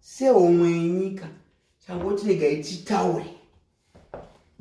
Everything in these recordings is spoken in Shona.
sehomwe yenyika changoti regai titaure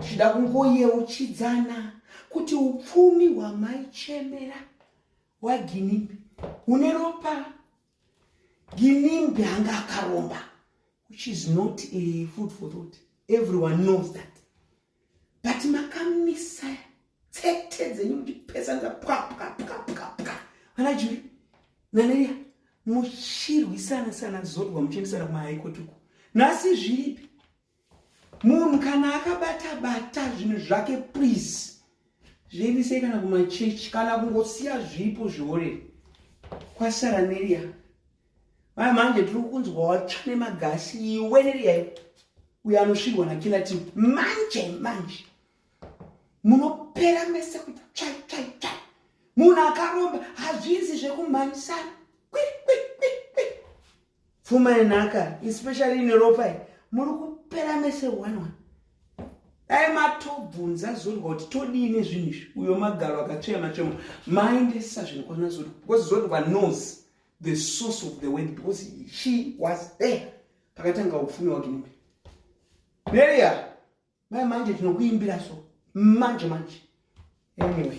tichida kungoyeuchidzana kuti upfumi hwamaichemera hwaginimbi hune ropa ginimbi anga akaromba which is not a food for thought everyone knows that but makamisa tsete dzenyu muchipesanza pwapwapwapwapwa vana juri nanaria muchirwisana sana zodwa muchiendesana kumahaikoti uku nhasi zviripi munhu kana akabata bata zvinhu zvake please zviendesei kana kumachechi kana kungosiya zvipo zviorere kwasara neria Maya manje tiri kunzwa watsva nemagasi iwe neriyayo uyo anosvirwa nakila team manje manje munopera mese kuti tsvai tsvai tsvai munhu akaromba hazvinzi zvekumhanyisana kwikwikwi pfuma yenhaka especially ine ropa i muri kupera mese one one dai matobvunza zodwa kuti todii nezvinhu izvi uyo magaro akatsvea machemo maendesa zvinhu kwana zodwa because zodwa nose the source of the word because she was there pakatanga upfumi wake mumbe maria mai manje tinokuimbira so manje manje anyway